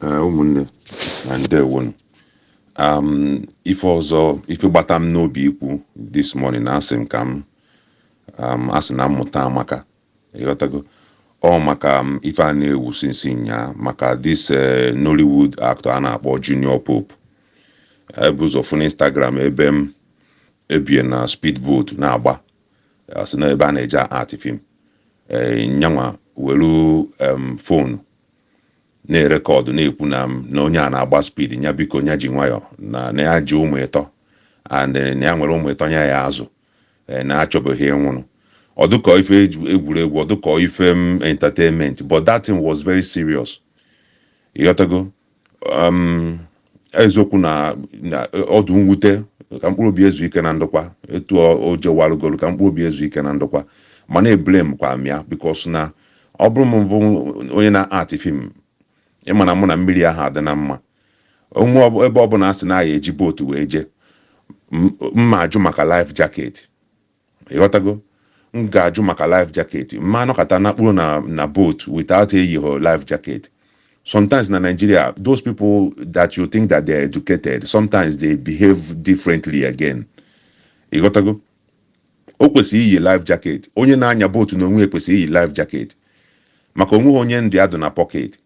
Ee, ụmụnne na ndewonu um, ife ọzọ ife gbata m n'obi ikwu this morning na asị m ka m um, asị na mmụta amaka ịghọtago ọ maka um, ife a na-ewu since nyaa maka this eh, Nollywood actor a na-akpọ Junior Pope e bu ụzọ fụ n'Instagram ebe m e bu ya na speedboat na-agba asị na ebe a na-eje act film eh, nyanwa welu um, fonu na-erekọdụ na-ekwu na m na onye a na-agba speed nya biko nya ji nwayọ na na ya ji ụmụ ịtọ and eh, na ya nwere ụmụ ịtọ nya ya azụ eh, na achọbeghị ịnwụrụ ọ dịkọ ife egwu- egwuregwu ọ dịkọ ife m entertainment but that thing was very serious ịghọtago um, eziokwu na na ọ dụ mwute ka mkpụrụ obi e zu ike na ndokwa etu ọ- o jewalụgoro ka mkpụrụ obi e zu ike na ndokwa mana eblame kwa m ya because na ọ bụrụ m bụ onye na-act film ịma na mụ na mmiri aha adị na mma onwe ọ- ebe ọ bụla a sị na a ya-eji boat wee jee m- m ma-ajụ maka life jacket Ị ghọtago? M ga-ajụ maka life jacket, m ma-anọkata nakpuru na na boat without eyighị life jacket. Sometimes na Nigeria, those people that you think that they are educated, sometimes they behave differently again. Ị ghọtago? O kwesịrị iyi life jacket. Onye na-anya boat n'onwe ya kwesịrị iyi life jacket maka o nweghị onye ndụ ya dụ na pocket.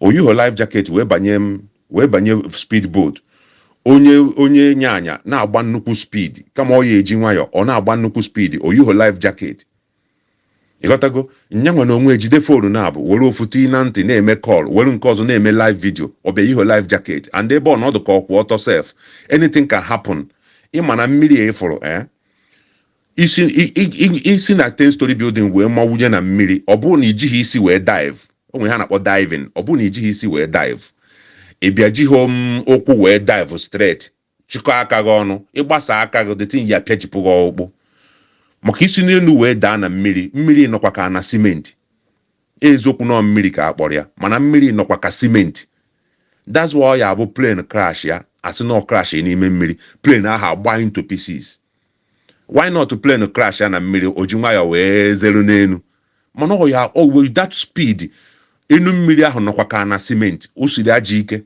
o yighọ life jacket wee banye m wee banye speed boat onye onye na-anya na-agba nnukwu speed kama ọ ya eji nwayọ ọ na-agba nnukwu speed o yighọ life jacket ịghọtago nyanwa n'onwe e jide fonu naabụ were ofu tii na ntị na-eme call were nke ọzọ na-eme live video ọ bịa yighọ life jacket and ebe ọ nọ ọ dụ ka ọ kwụ ọtọ sef anything can happen ịma na mmiri a ị fụrụ eh I si i- i- i- i si na 10 story building wee mawunye na mmiri ọ bụrụ na i jighị isi wee dive o nwere ihe a na-akpọ diving ọ bụrụ na i jighị isi wee dive ị bịa jighị um, ụkwụ wee dive straight chịkọọ aka gị ọnụ ị gbasaa aka gị that thing ya-apịajipụ gị ọkpụkpụ maka i si n'elu wee daa na mmiri mmiri nọkwa ka na simenti eziokwu na ọ mmiri ka a kpọrọ ya mana mmiri nọkwa ka simenti that's why ọ ya bụ plane crashịa a sị na ọ crash n'ime mmiri plane ahụ agba into pieces why not plane crashịa na mmiri o ji nwayọ wee zere n'enu mana ọ ya o with that speed enu mmiri ahụ nọkwa ka na simenti o siri ajọ ike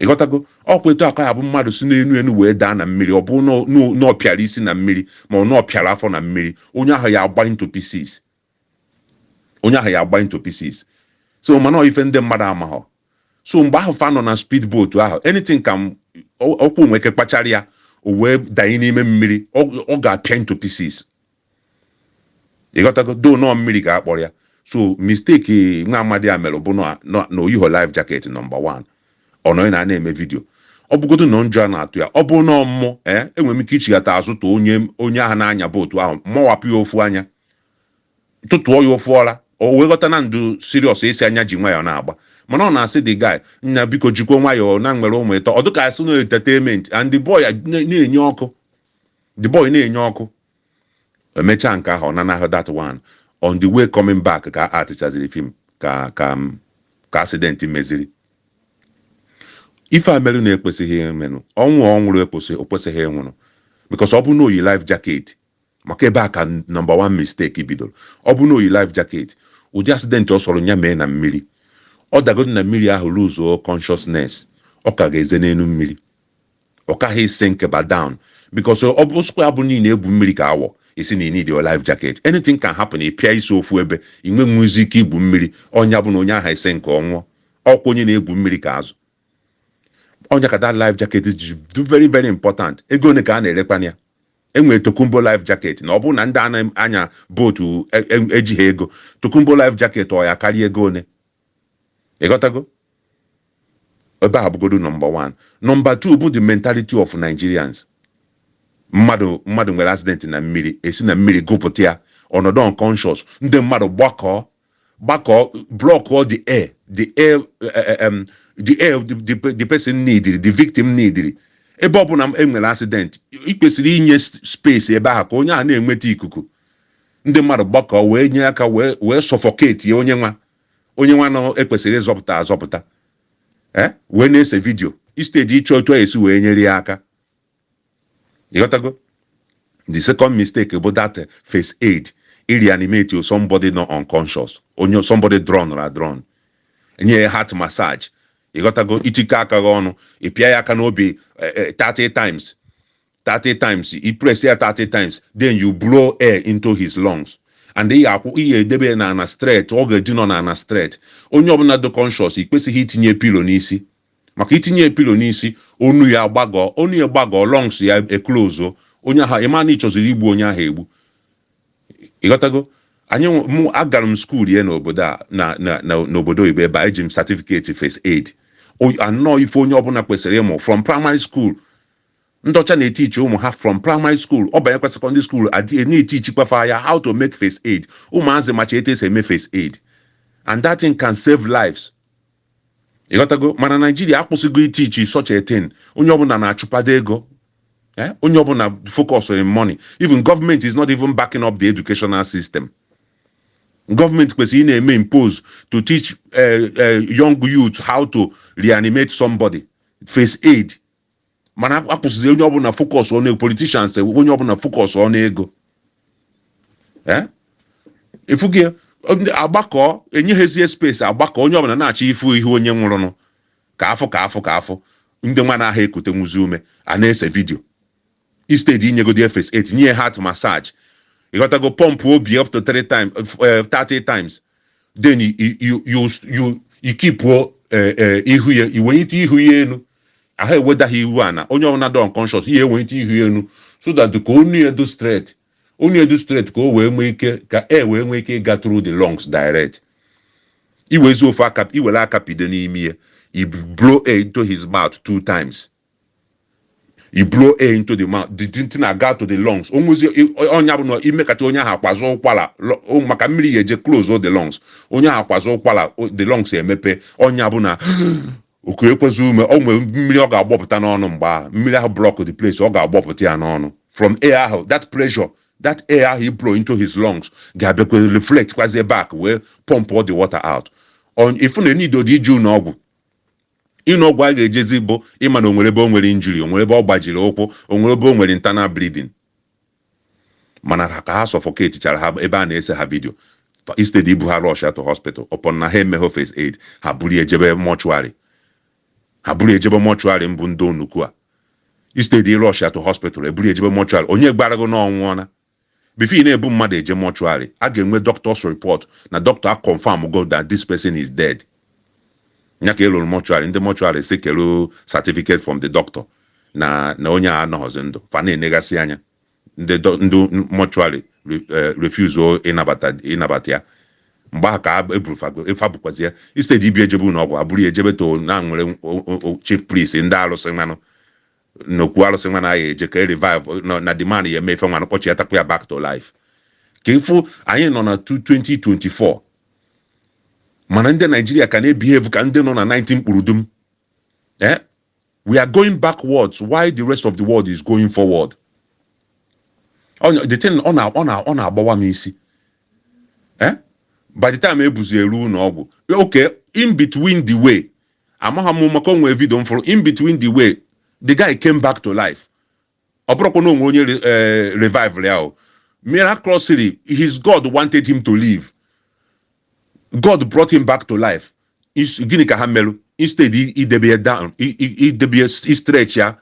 ịghọtago ọ kwa etu a ka ọ ya-abụ mmadụ si n'enu enu wee daa na mmiri ọ bụ na ọ pịara isi na mmiri ma ọ na ọ pịara afọ na mmiri onye ahụ ya-agba into pieces onye ahụ ya agba into pieces so mana ọ ife ndị mmadụ amaghọ so mgbe ahụ fa nọ na speed boat ahụ anything ka m- ọ- ụkwụ nwee ike kpachara ya o wee danye n'ime mmiri ọ ọ ga-apịa into pieces ịghọtago though na ọ mmiri ka a kpọrọ ya so mistake nwa amadi a mere bụ na na- na o yiho life jacket nọmba 1 ọ nọghị na a na-eme vidio ọ bụgodo na ụjọ a na-atụ ya ọ bụ na ọ mmụ ee enwere m ike ichighata azụ tụ onye onye ahụ na-anya bootu ahụ mawapụ ya ofu anya tụtụọ ya ofu ọra o wee ghọta na m dụ serious esi anya ji nwayọọ na-agba mana ọ na-asị the guy nna biko jikwa nwayọọ na m nwere ụmụ ịtọ ọ dịka a sị na entertainment and the boy na-enye ọkụ the boy na-enye ọkụ emechaa nke ahụ ọ nanahụ that one on the way coming back ka a actịchaziri fim ka ka ka accident meziri ife a merụ na-ekwesịghị emenụ ọnwụ ọ nwụrụ ekwesị o kwesịghị ịnwụrụ because ọ bụ na o yi life jacket Maka ebe a ka number one mistake bidoro. Ọ bụrụ na o yi life jacket, ụdị accident ọ sọrọ ya mee na mmiri, ọ dagodu na mmiri ahụ luzuo consciousness, ọ ka ga-ese n'elu mmiri. Ọ kaghị esinkịba down because ọ bụ sịkwa ya bụrụ na ị na-egwu mmiri ka awọ, ị still need your life jacket, anything can happen, ị pịa isi ofu ebe, ị nwehuzi ike igwu mmiri, ọ nya bụ na onye ahụ esinkị, ọ nwụọ. Ọ kwa onye na-egwu mmiri ka azụ. ọ nya ka that life jacket ji dụ very very important ego one ka a na-erekwana ya enwere tokumbo life jacket na ọ bụrụ na ndị a na-anya bootu e- e- ejiha ego tokumbo life jacket ọ ya-akarị ego one ịghọtago ebe a bụgodo nọmba one nọmba two bụ the mentality of nigerians mmadụ mmadụ nwere accident na mmiri e si na mmiri gụpụta ya ọ nọdụ unconscious ndị mmadụ gbakọọ gbakọọ blọkụọ the air the air um, the air the, the, the person neediri the victim neediri ebe ọ bụla e nwere accident ị kwesịrị inye space ebe ahụ ka onye ahụ na-enweta ikuku ndị mmadụ gbakọọ wee nye aka wee wee suffocate ya onye nwa onye nwanụ e kwesịrị ịzọpụta azọpụta e wee na-ese vidio instead ịchọ otu a ya-esi wee nyere ya aka ịghọtago the second mistake bụ that eh, first aid i reanimate somebody nọ unconscious onye somebody drown ra drown enye ya heart massage ịghọtago ị tikọọ aka gị ọnụ ị pịa ya aka n'obi eh, eh, 30 times 30 times i press ya 30 times then you blow air into his lungs and ị ga-akwụ ị ga-edebe ya na ana straight ọ ga-edina na ana straight onye ọbụla dị conscious i kwesịghị itinye pillow n'isi maka itinye pillow n'isi onu ya gbagọọ onu ya gbagọọ lungs ya eklozo onye ahụ ịma na ị chọziri igbu onye ahụ egbu ịghọtago anyị nwe- mụ agara m school ya n'obodo a na na- na- n'obodo oyibo ebe a eji m certificate first aid O- anọ ife onye ọbụla kwesịrị ịmụ from primary school ndị ọcha na-etichi ụmụ ha from primary school ọ banyekwa secondary school a dịrị na-etichikwa fa ya how to make first aid ụmụazị macha etu esi eme first aid and that thing can save lives ịghọtago mana Nigeria akwụsịgo itichi such a thing onye ọbụla na-achụpado ego eh, onye ọbụla focus on money even government is not even backing up the educational system government kwesịrị ịna-eme impose to teach eh, eh, young youth how to reanimate somebody first aid mana akwụsịzi onye ọbụla focus n'ego politicians onye ọbụla focus n'ego Eh? ịfụ gị ndị agbakọ enyeghịzie space agbakọ onye ọbụla na-achọ ịfụ ihe onye nwụrụnụ ka a fụ ka a fụ ka a fụ ndị nwa anaha ekutenwuzi ume a na-ese video Instead inyegodi ya first aid, nye ya heart massage. Ị ghọtago? Pump obi up to three times, eh, 30 times. Then i- i- you, you, you, i keep eh, eh, ihu ya, i wenyite ihu ya elu. Aha eweda ha iru ana. Onye ọbụla dị unconscious, ya ewenyite ihu ya elu. So that ka onu ya dị straight. Onu ya dị straight ka o wee nwee ike, ka air wee nwee ike ịga through the lungs direct. iwezi ofu aka iwere aka pido n'imi ya i blow air into his mouth two times i blow air into the mouth the thing na-aga to the lungs o nwezi ọ nya bụ na imekata onye ahụ akwazie ụkwara lo- o- maka mmiri ya eje close all the lungs onye ahụ akwazie ụkwara o- the lungs emepe ọ nya bụ na o kuekwazi ume o nwere mmiri ọ ga-agbọpụta n'ọnụ mgbe ahụ mmiri ahụ block the place ọ ga-agbọpụta ya n'ọnụ from air ahụ that pressure that air ahụ i blow into his lungs ga-abịakwa reflect kwazie back wee pump all the water out On- ị fụ na enido dị ije ụnọ ọgwụ Ụnọ ọgwụ a ga-ejezi bụ ịma na o nwere ebe o nwere injury, o nwere ebe ọ gbajiri ụkwụ, o nwere ebe o nwere internal bleeding. Mana ha ka ha suffocate chara ha ebe a na-ese ha video. Fa- Instead ibu ha rush ya to hospital, upon na ha emeghị first aid, ha buru ya ejebe mortuary. Ha buru ya ejebe mortuary mbụ ndị onuku a. Instead ịrush ya to hospital, e buru ya ejebe mortuary. Onye gwara gị na ọ nwụọna? Before ị na-ebu mmadụ eje mortuary, a ga-enwe doctor's report na doctor a confirm go that this person is dead. Ya ka e ruru mortuary, ndị mortuary sị kere certificate from the doctor na na onye a anọghọzi ndụ, fa na-enegasị anya, ndị do- ndị mortuary re- eh, refuse o ịnabata ịnabata ya. Mgbe ahụ ka a- eburu fago efa bụkwazi ya instead ibu ya ejebe ụnọ ọgwụ e buru ya ejebe to na nwere o- o- o- chief priest ndị arụsị nwanụ nnukwu arụsị nwanụ a ya-eje ka e revive na- na the man ya-eme ife nwanụ kpọchịatakwa ya back to life ka ịfụ anyị nọ na 2024 mana ndị Nigeria ka na-ebihave ka ndị nọ na 19 kpurudum eh? we are going backwards while the rest of the world is going forward Onye- the thing ọ na- ọ na- ọ na-agbawa m isi eh? by the time e buzi eru ụnọ ọgwụ okay in between the way Amaghọ m maka o nwee video m fụrụ in between the way the guy came back to life. Ọ bụrụkwa na o nwere onye re- eh, revived ya o. Miraculously, his God wanted him to live. God brought him back to life. Is- Gịnị ka ha merụ? Instead i- idebe ya down, i- i- idebe ya s- i stretch ya,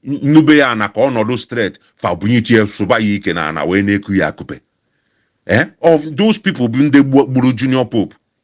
n- nube ya ana ka ọ nọdụ straight, fa bunyetu ya sụba ya ike na ana wee na-eku ya akupe. Eh? Ọ those people bụ ndị gbu- gburu Junior Pope.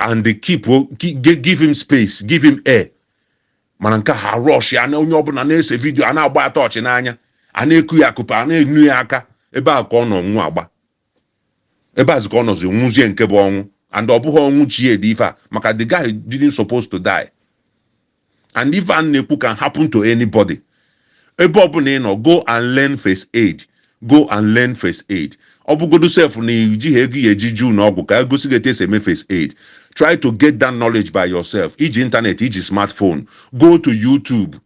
and they keep o- gi- gi- give him space give him air mana nke ha rush ya na onye ọbụla na-ese video a na-agba ya torch n'anya a na-eku ya akupe a na-enu ya aka ebe a ka ọ nọ nwụ agba ebe a zi ka ọ nọzi nwụzie nke bụ ọnwụ and ọ bụghị ọnwụ chi ya dị ife a maka the guy didn't supposed to die and ife a na-ekwu can happen to anybody ebe ọbụla ị nọ go and learn first aid go and learn first aid ọ bụgodu sef na i jighị ego ya-eji je ụnọ ọgwụ ka e gosi gị etu e si eme first aid try to get that knowledge by yourself i ji internet i ji smartphone go to YouTube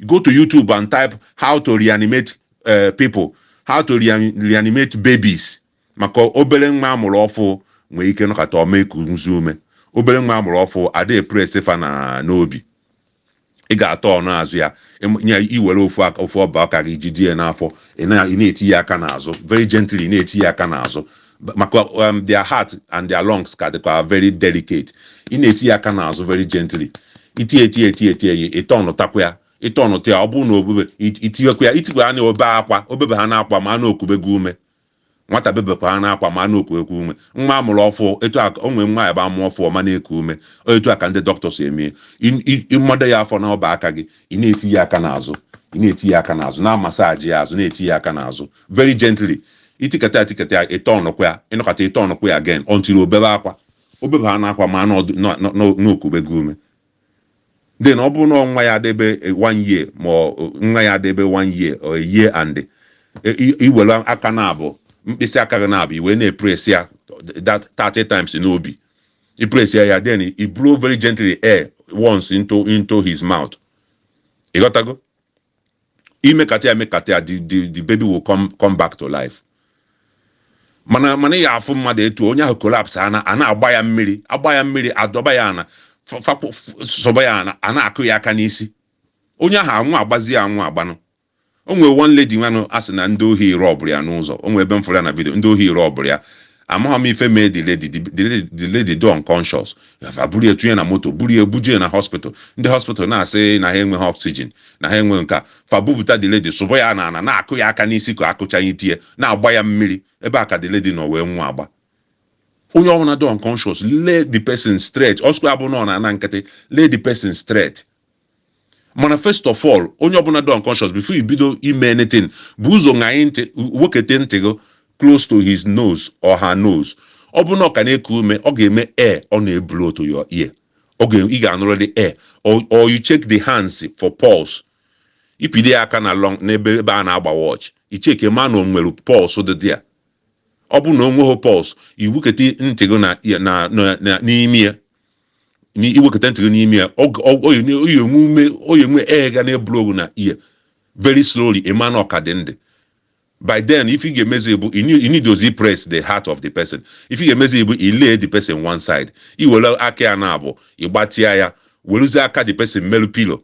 go to YouTube and type how to reanimate uh, people how to rean- reanimate babies maka obere nwa a mụrụ ọfụ nwee ike nọkata ọ ma ekunwuzi ume obere nwa a mụrụ ọfụ a da-epress fa na n'obi ị ga-atọọnụ azụ ya ịm- nye i were ofu aka ofu ọba aka gị jide ya n'afọ ị na- ị na-eti ya aka n'azụ very gently ị na-eti ya aka n'azụ Ba- maka um, their heart and their lungs ka dịkwa very delicate ị na-eti ya aka n'azụ very gently i tie tie tie tie ya ị tọọnụtakwa ya ị tọọnụta ya ọ bụrụ na o bebe it- i tiwekwa ya i tikwa ya na o be akwa o bebe haana akwa maa na o kubego ume Nwata bebekwa haana akwa maa na o kubego ume. Nwa a mụrụ ọfụ, etu a, o nwee nwa ya-abụ a mụ ọfụ ọ ma na-eku ume. Ọ etu a ka ndị dọkịta si eme ya. Ị ị ị mado ya afọ n'ọba aka gị, ị na-eti ya aka n'azụ, ị na-eti ya aka n'azụ, na-amasaajị ya azụ, na-eti ya aka n'azụ very gently. I tikata ya tikata ya, ị tọọnụkwa ya, ị nọkata ị tọọnụkwa ya again until o bebe akwa. O bebe haana akwa maa na ọ dị na na na o na o kubego ume. then ọ bụrụ na nwa ya dịbe one year ma nwa ya dịbe one year or a year and i were aka naabọ mkpịsị aka gị naabọ i we na-epresi ya that 30 times n'obi i presi ya then i blow very gently air once into into his mouth ị ghọtago imekata ya emekata ya the the the baby will come come back to life mana mana ị ga-afụ mmadụ etu onye ahụ collapse ana a na-agba ya mmiri agba ya mmiri adọba ya ana fa- fa- f- sụba ya ana a na-akụ ya aka n'isi onye ahụ anwụ agbazi ya anwụ agbanụ o nwere one lady nwanụ a sị na ndị ohi rọbụrụ ya n'ụzọ o nwere ebe m fụrụ ya na video ndị ohi rọbụrụ ya amaghị m ife mee the lady the, the, lady- the lady dị unconscious fa buru ya tụnye na moto buru ya buje ya na hospital ndị hospital na-asị na ha enweghị oxygen na ha enweghị nke a fa bupụta the lady sụba ya n'ana na-akụ ya aka n'isi ka akụcha ya itie na-agba ya mmiri ebe a ka the lady nọ wee nwụọ agba onye ọbụla dị unconscious lay the person straight ọ sọkwa ya bụ na ọ n'ana nkịtị lay the person straight mana first of all onye ọbụla dị unconscious before you bido ime anything bu ụzọ ṅaa ntị wekete ntị gị close to his nose or her nose ọ bụrụ na ọ ka na-eku ume ọ ga-eme air ọ na-eblow to your ear ọ ga ị ga-anụrịrị air or, or you check the hands for pulse ipide ya aka na long n'ebe ebe a na-agba watch icheke ma na o nwere pulse dị there ọ bụrụ na o nweghị pulse iwekete ntị gị na, na, na, na, n'imi ya na iweketa ntị gị n'imi ya ọ ga- ọ- ọ ga- ọ ga-enwe ume ọ ga-enwe air ga na-eblow gị na ear very slowly ị ma na ọ ka dị ndụ by then ife ị ga-emezi bụ you need- you need to you press the heart of the person ife ị ga-emezi bụ you lay the person one side i were aka ya naabọ ị gbatịa ya weruzie aka the person meru pillow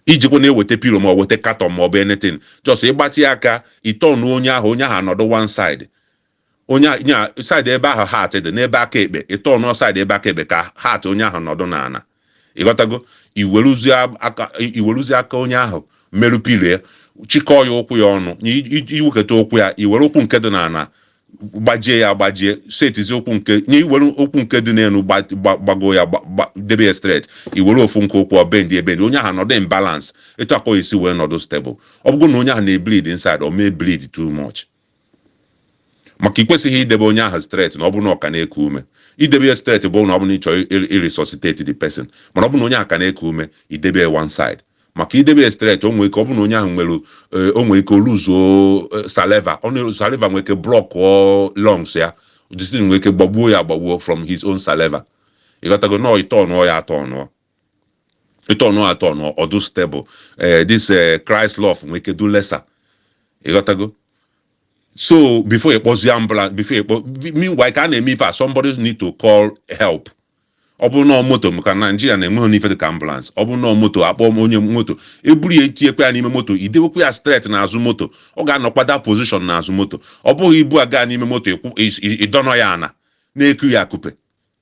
ijikwanụ eweta pillow ma ọ weta carton ma ọ bụ anything just ịgbatịa aka ịtọnụ onye ahụ onye ahụ anọdụ one side onye a- nya side ebe ahụ heart dị n'ebe aka ekpe ịtọnụ side ebe aka ekpe ka heart onye ahụ nọdụ n'ana ịghọtago iweruzie aka iweruzie aka onye ahụ meru pillow chịkọọ ya ụkwụ ya ọnụ nye i- i- iwekọta ụkwụ ya iwere ụkwụ nke dị n'ana gbajie ya gbajie setizi ụkwụ nke nye iwere ụkwụ nke dị n'elu gba- gba- gbago ya gba- gba- debe ya straight iwere ofu nke ụkwụ bendie ebendi onye ahụ nọdụ in balance etu a ka ọ ya-esi wee nọdụ stable ọ bụrụ na onye ahụ na-ebleed inside ọ ma-ebleed too much maka ikwesịghị idebe onye ahụ straight na ọ bụrụ na ọ ka na-eku ume idebe ya straight bụ na ọ bụrụ na ị chọrọ ịresuscitate the person mana ọ bụrụ na onye ahụ ka na-eku ume idebe ya one side maka idebe ya straight o nwere ike ọ bụrụ na onye ahụ nwere o nwere ike o luzuo saliva ọ na saliva nwere ike blọkụọ lungs ya distin nwere ike gbagbuo ya agbagbuo from his own saliva ịghọtago nọọ ịtọnụọ ya atọnụ ịtọnụ ya atọnụ ọ dụ stable ee this ee kraịst lọf nwee ike dụ lesser ịghọtago so before ị kpọzie ambulance before ị kpọ meanwhile ka a na-eme ife a somebody need to call help ọ bụrụ na ọ moto maka na Nigeria enweghịnụ ife dịka ambulance ọ bụrụ na ọ moto akpọọ onye moto eburu ya etinyekwa ya n'ime moto idewekwa ya straight n'azụ moto ọ ga-anọkwa that position n'azụ moto ọ bụghị ibu ya gaa n'ime moto ịkwụ- ị- ị- ịdọnọ ya ana na-eku ya akupe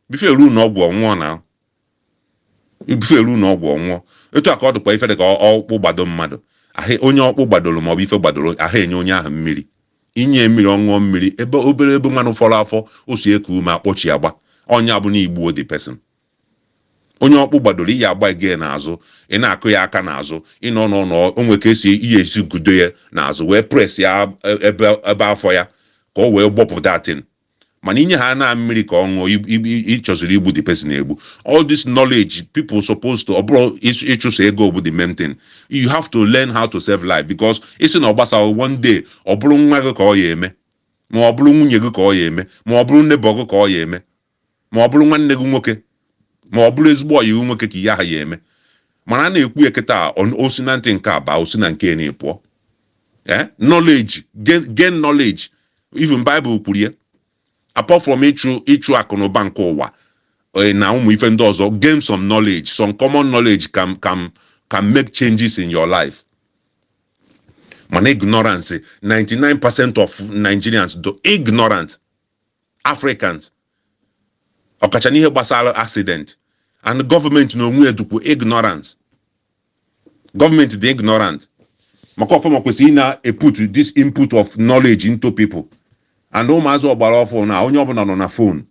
before eru ụnọ ọgwụ ọ nwụọna ibufe eru n'ụnọ ọgwụ ọ nwụọ etu a ka ọ dịkwa ife dị ka ọkpụ gbado mmadụ onye ọkpụ gbadoro maọbụ ife gbadoro aha enye onye ahụ mmiri i nye mmiri ọ ṅụọ mmiri ebe obere ebe nwanụ fọrọ afọ o si eku ume akpọchie agba ọ ya abụ na i gbuo the person onye ọkpụ gbadoro ị ya agbaga n'azụ ị na-akụ ya aka n'azụ ị nọ n'ụnọ o nwere ka esi ị ya esi gudo ya n'azụ wee press ya ebe ebe afọ ya ka o wee gbọpụ that thing mana inye ha na mmiri ka ọ ṅụọ ib- ib- ị chọziri igbu the person egbu all this knowledge people supposed to ọ bụrọ ịs- ịchụso ego bụ the main thing you have to learn how to save life because ị sị na ọ gbasaghị one day ọ bụrụ nwa gị ka ọ ya eme ma ọ bụrụ nwunye gị ka ọ ya eme ma ọ bụrụ neighbor gị ka ọ ya eme ma ọ bụrụ nwanne gị nwoke ma ọ bụrụ ezigbo ọyị gị nwoke ka ihe aha ya eme mana a na-ekwu ya kịta a, ọ- o si na ntị nke a baa o si na nke eni pụọ ee knowledge gain gain knowledge even Bible kwuru ya apart from ịchụ ịchụ akụ na ụba nke ụwa eh, na ụmụ ife ndị ọzọ gain some knowledge some common knowledge can can can make changes in your life mana ignorance 99% of Nigerians dị ignorant Africans ọkacha n'ihe gbasara accident and government na onwe ya dịkwu ignorance government dị ignorant maka ọ fanwa kwesịrị ịna-eput this input of knowledge into people and ụmụazị ọgbara ọfụ na onye ọbụla nọ na phone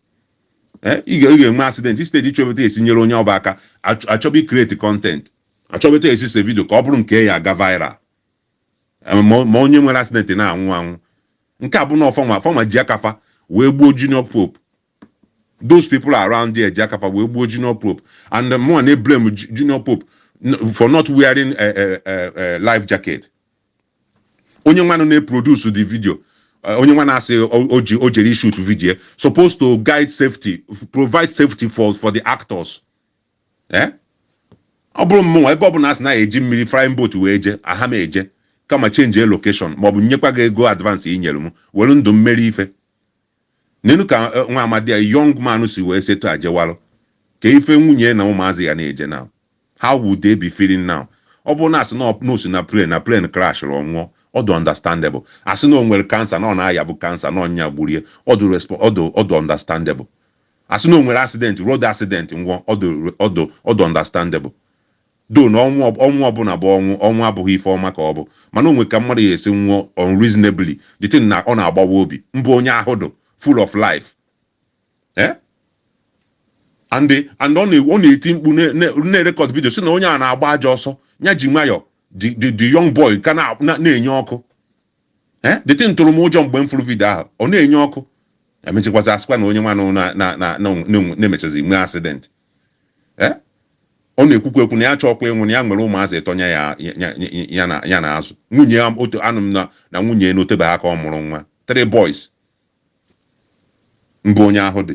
ị ga-enwe accident instead ị chọba etu esi nyere onye ọ bụ aka achọba icreate content achọba etu esi see video ka ọ bụrụ nke ya aga viral ma onye nwere accident na-anwụ anwụ nke a bụ na ọ fanwa fanwa ji aka fa wee gbuo junior pope those people around there ji aka fa wee gbuo junior pope and mụnwa na-eblame junior pope for not wearing a, a, a, a life jacket onye nwanụ na-eproduce the video onye nwanụ sị oji o jere shoot video supposed to guide safety provide safety for for the actors ee ọ bụrụ mmụnwa ebe ọ bụla a sị na a ya eji mmiri flying boat wee je aha m eje kama change location ma ọ bụ nyekwa gị ego advance i nyere m were ndụ m meri ife nenụ ka eh, nwa amadi a young man si wee si etu a jewalụ kee ife nwunye na ụmụazị ya na-eche now how would they be feeling now ọ bụrụ na asị na ọ- na o si na plane na plane crashrụ ọ nwụọ ọ dị understandable asị na o nwere cancer na ọ na-aya bụ cancer na ọ nya gburu ya ọ dị respo- ọ dị- ọ dị understandable Asị na o nwere accident, road accident nwụọ, ọ dị ọ dị ọ dị understandable. Though na ọnwụ ọ ọnwụ ọbụla bụ ọnwụ, ọnwụ abụghị ife ọma ka ọ bụ. Mana o nwere ka mmadụ ya esi nwụọ unreasonably, the thing na ọ na-agbawa obi. Mbe onye ahụ dị full of life. Eh? And and ọ na ọ na-eti mkpu na na na-erecord video sị na onye a na-agba ajọ ọsọ, ya ji nwayọọ the the the young boy ka na na na-enye ọkụ. ee the thing tụrụ m ụjọ mgbe m fụrụ video ahụ ọ na-enye ọkụ emechikwazi asịkwa na onye nwanụ na-emechazi nwee accident ee ọ na-ekwukwa ekwu na ya achọọkwa ịnwụ na ya nwere ụmụazị ịtọ ya ya na-azụ nwunye ya otu anụ m na nwunye ya na o tebeghị aka ọ mụrụ nwa three boys mbụ onye ahụ dị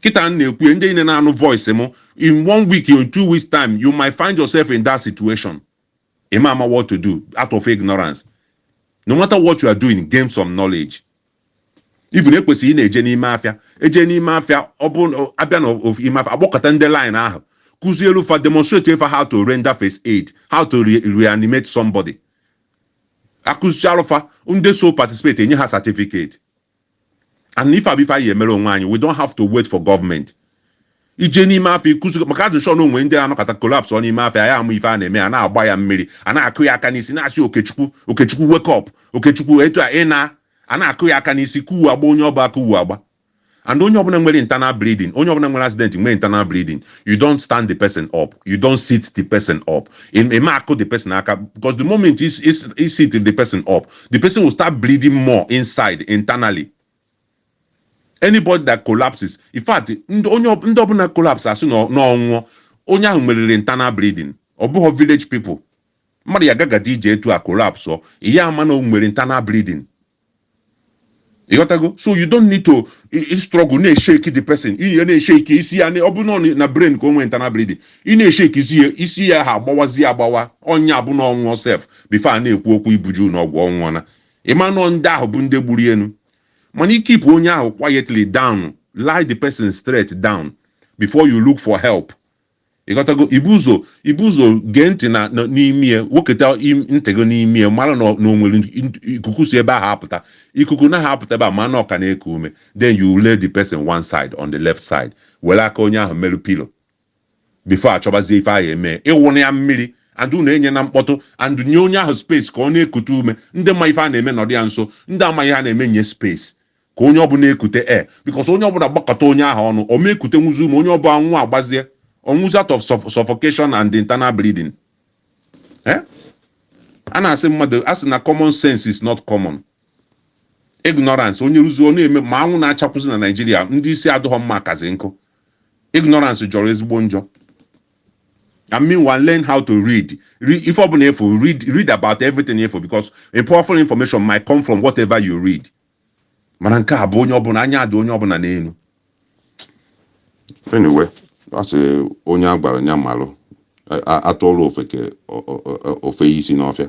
kịta m na-ekwu ya ndị niile na-anụ voice m in one week in two weeks time you might find yourself in that situation ị ma ama what to do out of ignorance no matter what you are doing gain some knowledge even e kwesịrị ịna-eje n'ime afịa eje n'ime afịa ọ bụ na- abịa na of- ime afịa agbakọta ndị line ahụ kụzielụ fa demonstrate fa how to render first aid how to re- reanimate somebody akụzichaalụ fa ndị so participate enye ha certificate and ife a bụ ife anyị ya-emere onwe anyị we don't have to wait for government ije n'ime afịa ịkụzi maka a dị sure na o nwee ndị anọkata collapse ọ n'ime afịa anyị ama ife a na-eme a na-agba ya mmiri a na-akụ ya aka n'isi na-asị okechukwu okechukwu wake up okechukwu etu a ị na a na-akụ ya aka n'isi kụwe agba onye ọbụ a kụwe agba and onye ọbụla nwere internal bleeding onye ọbụla nwere accident nwere internal bleeding you don't stand the person up you don't sit the person up ị ma akụ the person aka because the moment you sit the person up the person will start bleeding more inside internally anybody that collapses in fact ndị onye ọ- ndị ọbụla collapse asị na ọ- na ọ nwụọ onye ahụ nweriri internal bleeding ọ bụghị village people mmadụ ya gagadi ije etu a collapse ọ ị ya-ama na o nwere internal bleeding ị ghọtago so you don't need to struggle na-eshake the person ị ya na-eshake isi ya ọ bụ na ọ na brain ka o nwee internal bleeding ị na-eshake isi ya isi ya ahụ agbawazi agbawa ọ ya-abụ na ọ nwụọ sef before a na-ekwu okwu ibuje ụnọ ọgwụ ọ nwụọna ị ma na ọ ndị ahụ bụ ndị gburu ya nụ mana i keep onye ahụ quietly down lie the person straight down before you look for help Ị ghọtago? Ibu ụzọ ibu ụzọ gee ntị na n'imi ya, weketa ntị gị n'imi ya, mara na na o nwere ikuku si ebe ahụ apụta. Ikuku na-apụta ebe a, ma na ọ ka na-eku ume. Then you lay the person one side on the left side, were aka onye ahụ merụ pillow before a chọbazie ife a ya-eme. Ị wụna ya mmiri and unu enyena mkpọtụ and nye onye ahụ space ka ọ na-ekute ume. Ndị ma ife a na-eme nọdụ ya nso, ndị amaghị ihe a na-eme nye space. Ka onye ọbụla ekute air, because onye ọbụla gbakọta onye ahụ ọnụ, ọ ma ekutenwuzi ume, onye ọbụ anwụọ agbazie, ọ nwụzi out of suff- suffocation and internal bleeding. Eh? A na-asị mmadụ, a sị na common sense is not common. Ignorance, onye rụzi ọ na-eme ma anwụ na-achakwụzi na Naịjirịa, ndị isi adịghọ mma akazi nkụ. Ignorance jọrọ ezigbo njọ. And meanwhile, learn how to read. Re- ife ọbụna ị fụ, read read about everything ị fụ because a powerful information might come from whatever you read. mana nke a bụ onye ọbụna anya adị onye ọbụna n'enu anyway a sị onye a gwara nya malụ a- a- atụọlụ ofeke o- o- o- o feye isi n'ọfịa